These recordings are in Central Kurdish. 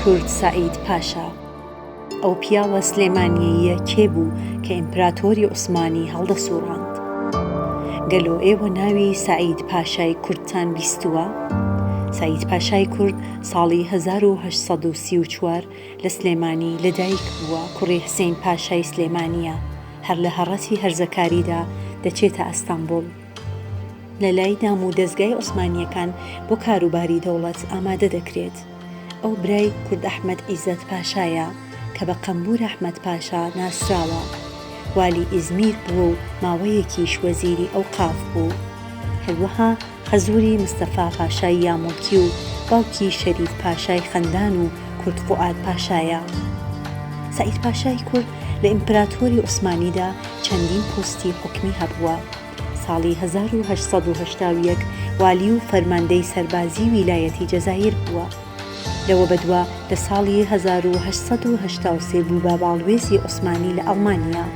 کورد سەعید پاشا ئەو پیاوە سلێمانیەییە کێ بوو کە ئیمپراتۆری عوسمانی هەڵدەسووڕاند؟ گەلۆ ئێوە ناوی سەعید پاشای کوردتان بیستووە؟ سەعید پاشای کورد، ساڵی هەزار و هەشت سەد و سی و چوار لە سلێمانی لە دایک بووە، کوڕی حسین پاشای سلێمانییە، هەر لە هەڕەتی هەرزەکاریدا دەچێتە ئەستەنبوڵ. لە لای دام و دەزگای عوسمانییەکان بۆ کاروباری دەوڵەت ئامادە دەکرێت. ئەو برای کورد ئەحمەد عیزەت پاشایە کە بە قەمبوور ئەحمەد پاشا ناسراوە. والی ئیزمیر بووە و ماوەیەکیش وەزیری ئەوقاف بوو. هەروەها حەزوری مستەفا پاشای یامۆکی و باوکی شەریف پاشای خەندان و کورد فوئاد پاشایە. سەعید پاشای کورد لە ئیمپراتۆری عوسمانیدا چەندین پۆستی حکومی هەبووە. ساڵی هەزار و هەشت سەد و هەشتا و یەک والی و فەرماندەی سەربازی ویلایەتی جەزایر بووە. لەوە بەدوا لە ساڵی هەزار و هەشت سەد و هەشتا و سێ بوو بە باڵوێزی عوسمانی لە ئەڵمانیا.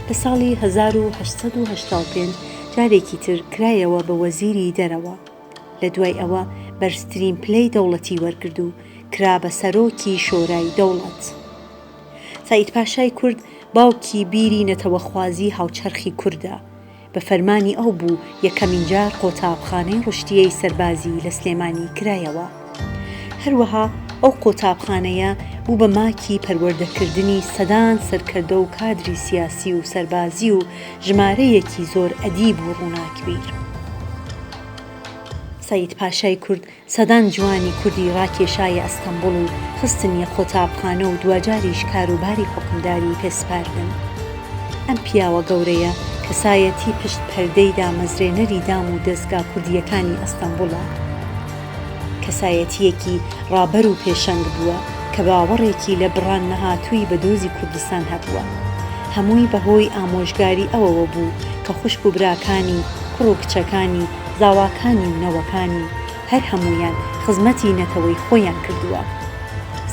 لە ساڵی هەزار و هەشت سەد و هەشتا و پێنج جارێکی تر کرایەوە بە وەزیری دەرەوە، لە دوای ئەوە بەرزترین پلەی دەوڵەتی وەرگرد و کرا بە سەرۆکی شۆرای دەوڵەت. سەعید پاشای کورد باوکی بیری نەتەوەخوازی هاوچەرخی کوردە، بە فەرمانی ئەو بوو یەکەمین جار قۆتابخانەی ڕشتیەی سەربازی لە سلێمانی کرایەوە. هەروەها ئەو قۆتابخانەیە بوو بە ماکی پەروەردەکردنی سەدان سەرکردە و کادری سیاسی و سەربازی و ژمارەیەکی زۆر ئەدیب و ڕووناکبیر. سەید پاشای کورد سەدان جوانی کوردی ڕاکێشایە ئەستەمبوڵ و خستنیە قۆتابخانە و دواجاریش کاروباری حوکمداری پێ سپاردن. ئەم پیاوە گەورەیە کەسایەتی پشت پەردەی دامەزرێنەری دام و دەزگا کوردییەکانی ئەستەمبوڵە. کەسایەتییەکی ڕابەر و پێشەنگ بووە کە باوەڕێکی لە بڕان نەهاتووی بە دۆزی کوردستان هەبووە. هەمووی بە هۆی ئامۆژگاری ئەوەوە بوو کە خوشک و براکانی، کوڕ و کچەکانی، زاواکانی و نەوەکانی، هەر هەموویان خزمەتی نەتەوەی خۆیان کردووە.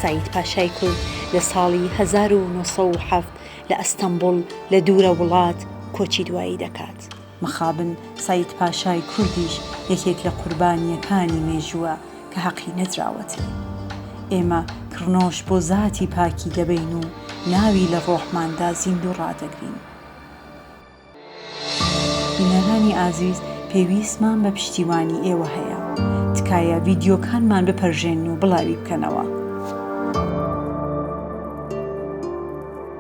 سەعید پاشای کورد لە ساڵی هەزار و نۆ سەد و حەفت لە ئەستەنبوڵ لە دوورە وڵات کۆچی دوایی دەکات. مخابن سەید پاشای کوردیش یەکێک لە قوربانییەکانی مێژووە کە هەقی نەدراوەتی. ئێمە کڕنۆش بۆ زاتی پاکی دەبەین و ناوی لە ڕۆحماندا زیندوو ڕادەگرین. بینەرانی ئازیز پێویستمان بە پشتیوانی ئێوە هەیە. تکایە ڤیدیۆکانمان بپەرژێنن و بڵاوی بکەنەوە.